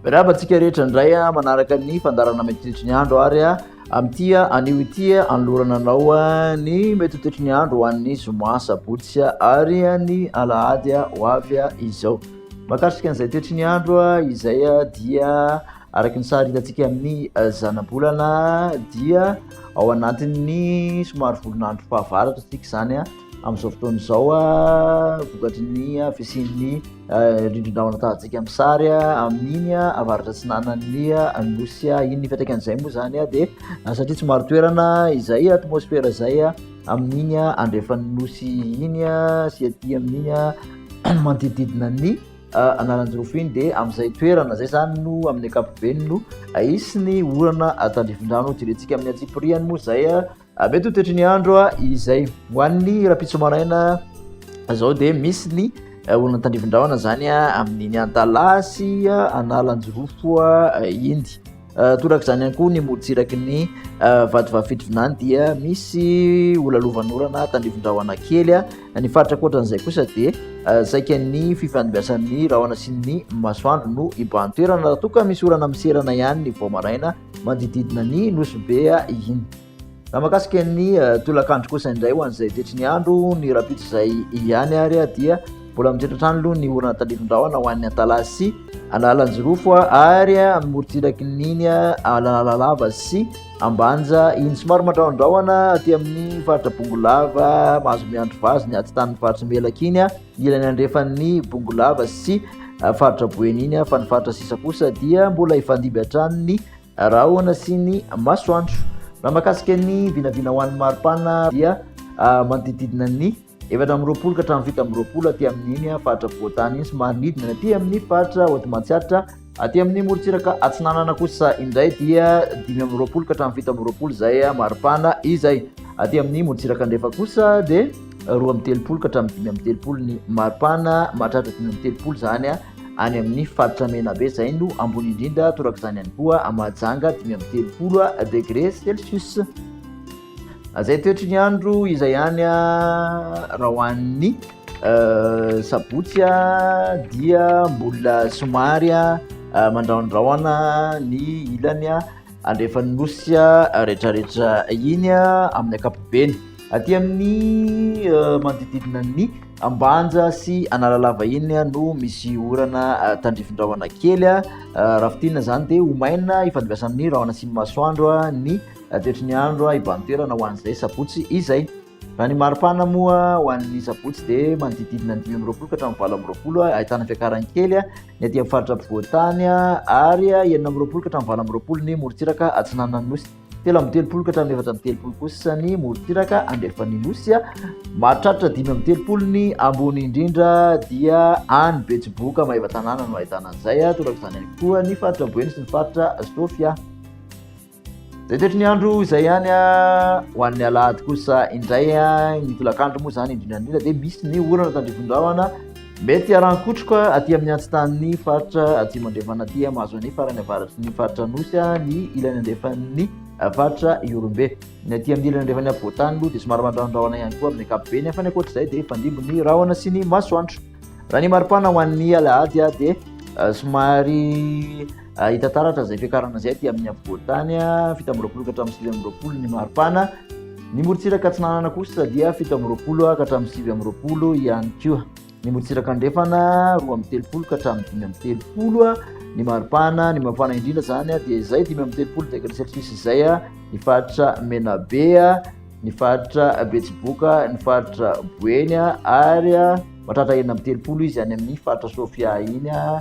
Mirahaba antsika rehetra indray a, manaraka ny fandarana metotetry ny andro ary a, amin'ity a, anio ity a, anolorana anao a, ny metotetry ny andro ho an'ny zoma sabotsy a, ary a, ny alahady a, ho avy a, izao. Mahakasika an'izay toetry ny andro a, izay a, dia Araka ny sary hitantsika amin'ny zanabolana dia ao anatin'ny somary volonandro fahavaratra isika izany a amin'izao fotoana izao a vokatry ny fisian'ny rindrin-drahona tahantsika amin'ny sary a amin'iny a avaratra atsinanan'ny nosy a iny nipetraka an'izay moa izany a dia satria tsy maro toerana izay atmosfera izay a amin'iny a andrefan'ny nosy iny a sy aty amin'iny a manodidididina ny Ah, Analanjirofo iny dia amin'izay toerana izay izany no amin'ny ankapobeny no ahisy ny orana tandrifindrano direntsika amin'ny antsipiriany moa izay ah, ah, mety ho toetry ny andro ah, izay ho an'ny rapitso maraina izao dia misy ny orana tandrifindrahona izany amin'iny antalaha sy analanjirofo iny Toraka izany ihany koa ny morontsiraky ny vatovavy fitovinany dia misy olalovanorana tandrivon-drahona kely. Ny faritra ankoatran'izay kosa dia saika ny fifandibiasan'ny rahona sy ny masoandro no ibahan-toerana raha toa ka misy orana miserana ihany ny vao maraina manodididina ny Nosy Be iny. Raha makasika ny tolakandro kosa indray ho an'izay tretry ny andro ny rapitry izay ihany ary dia mbola mitratra hatrany aloha ny orana tandrifin-drahona ho an'ny Antalaha sy Analanjirofo ary amin'ny morontsiraky niny Analalava sy Ambanja iny somary mandrahondrahona aty amin'ny faritra Bongolava mahazo miandry vazo ny aty tanin'ny faritra Melaka iny ilany andrefan'ny Bongolava sy faritra Boeny iny fa ny faritra sisa kosa dia mbola hifandimby hatrany ny Rahona sy ny masoandro. Raha makasika ny vinavina ho an'ny maripana dia ah, manodididina ny efatra amby roapolo ka hatramin'ny fito amby roapolo aty amin'iny ah, faritra afovoan-tany iny sy manodidina aty amin'ny faritra Hoatimantsiatra aty amin'ny morontsiraka atsinanana kosa indray dia dimy amby roapolo ka hatramin'ny fito amby roapolo izay ah, maripana izay aty amin'ny morontsiraka andrefa kosa dia roa amby telopolo ka hatramin'ny dimy amby telopolo ny maripana mahatratra dimy amby telopolo izany ah, any amin'ny faritra Menabe izay no ambony indrindra torak'izany ihany koa Mahajanga dimy amby telopolo degré celsius izay toetry ny andro izay any raha ho an'ny euh, sabotsy dia mbola somary mandrahondrahona ny ilany andrefan'ny nosy rehetrarehetra iny amin'ny ankapobeny aty amin'ny euh, manodididina ny Ambanja sy Analalava iny no misy orana tandrifin-drahona kely. Raha fitina izany dia ho maina ifandimbiasa amin'ny rahona sy ny masoandro ny toetry ny andro ibahan-toerana ho an'izay sabotsy izay. Raha ny maripana moa ho an'ny sabotsy dia manodididina ny dimy amby roapolo ka hatramin'ny valo amby roapolo ahitana fiakarany kely ny aty amin'ny faritra ampovoan-tany ary enina amby roapolo ka hatramin'ny valo amby roapolo ny morontsiraka atsinanan'ny nosy. telo amby telopolo ka hatramin'ny efatra amby telopolo kosa ny morontsiraka andrefan'ny nosy a mahatratra dimy amby telopolo ny ambony indrindra dia any betsiboka maheva tanàna no ahitana an'izay a toraka izany any koa ny faritra boeny sy ny faritra sofy a zay toetry ny andro izay ihany a ho an'ny alahady kosa indray a ny tolakandro moa izany indrindra indrindra dia misy ny orana tandrivindrahona Mety haran-kotroka aty amin'ny antsitan'ny faritra atsimo andrefana aty mahazo ny farany avaratry ny faritra Anosy ny ilany andrefan'ny faritra Ihorombe. Ny aty amin'ny ilany andrefan'ny afovoantany aloha dia somary mandrahondrahona ihany koa amin'ny ankapobeny nefa ny ankoatra izay dia fandimby ny rahona sy ny masoandro. Raha ny maripana ho an'ny alahady dia somary Ah, hita taratra izay fiakarana izay aty amin'ny afovoantany ah, fito amby roapolo ka hatramin'ny sivy amby roapolo ny maripana ny morontsiraka atsinanana kosa dia fito amby roapolo ah, ka hatramin'ny sivy amby roapolo ihany koa ny morontsiraka andrefana roa amby telopolo ka hatramin'ny dimy amby telopolo ny maripana ny mafana indrindra zany dia izay dimy amby telopolo degré celsius izay a ny faritra menabe a ny faritra betsiboka ny faritra boeny a ary a matratra enina amby telopolo izy any amin'ny faritra sofia iny a